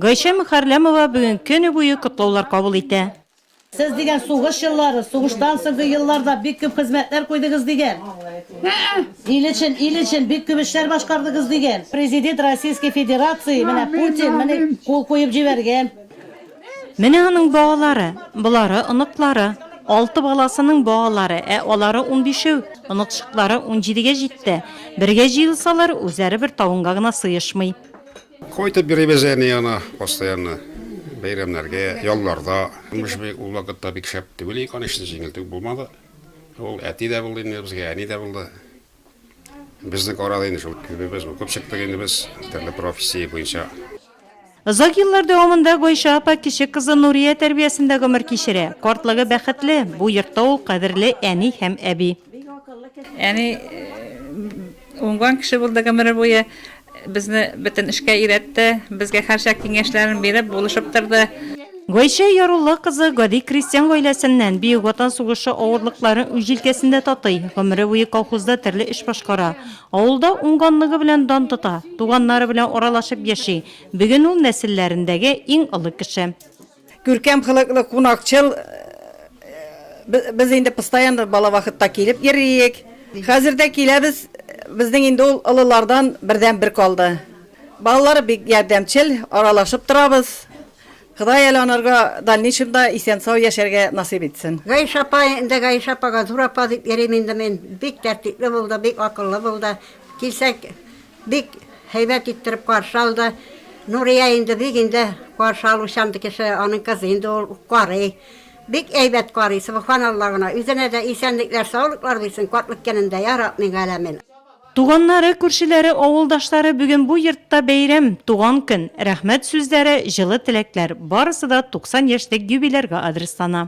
Гайшә Мөхәрләмова бүген көне буе котлаулар кабул итә. Сез дигән сугыш еллары, сугыштан соңгы елларда бик күп хезмәтләр куйдыгыз дигән. Ил өчен, ил өчен бик күп эшләр башкардыгыз дигән. Президент Российской Федерации, менә Путин, менә кул куеп җибәргән. Менә аның балалары, болары оныклары. Алты баласының балалары, ә алары унбишәү, оныкчыклары унҗидегә җитте. Бергә җыелсалар, үзләре бер табынга гына сыешмый. Кайтып йөрибез әни янына постоянно, бәйрәмнәргә, ялларда. Имеш, ул вакытта бик шәп түгел иде, конечно, җиңел түгел булмады. Ул әти дә булды инде безгә, әни дә булды. Безнең арада инде шул күбебез укып чыктык инде без, төрле профессия буенча. Озак еллар дәвамында Гайшә апа кече кызы Нурия тәрбиясендә гомер кичерә. Картлыгы бәхетле, бу йортта ул кадерле әни һәм әби. Әни, Уңган кеше булды гомере буе, безне бөтен эшкә өйрәтте, безгә һәрчак киңәшләрен биреп, булышып торды. Гайшә Ярулла кызы гади крестьян гаиләсеннән, Бөек Ватан сугышы авырлыкларын үз җилкәсендә татый, гомере буе колхозда төрле эш башкара, авылда уңганлыгы белән дан тота, туганнары белән аралашып яши, бүген ул нәселләрендәге иң олы кеше. Күркәм хылыклы, кунакчыл. Без инде постоянно бала вакытта килеп йөриек. Хәзер дә киләбез. Безнең инде ул олылардан бердәнбер калды. Балалары бик ярдәмчел, аралашып торабыз. Ходай әле анарга дальнейшемда исән-сау яшәргә насыйп итсен. Гайшә апа, инде Гайшә апага Зур апа дип йөрим инде мин. Бик тәртипле булды, бик акыллы булды. Килсәк, Бик һәйбәт иттереп каршы алды. Нурия инде бик инде каршы алучан ди кеше, аның кызы инде ул, карый. Бик әйбәт карый, сөбханалла гына. Үзенә дә исәнлекләр, саулыклар бирсен, картлык көнен дә, я раб мин галәмин. Туганнары, күршеләре, авылдашлары бүген бу йортта бәйрәм, туган көн. Рәхмәт сүзләре, җылы теләкләр, барысы да 90 яшьлек юбилярга адреслана.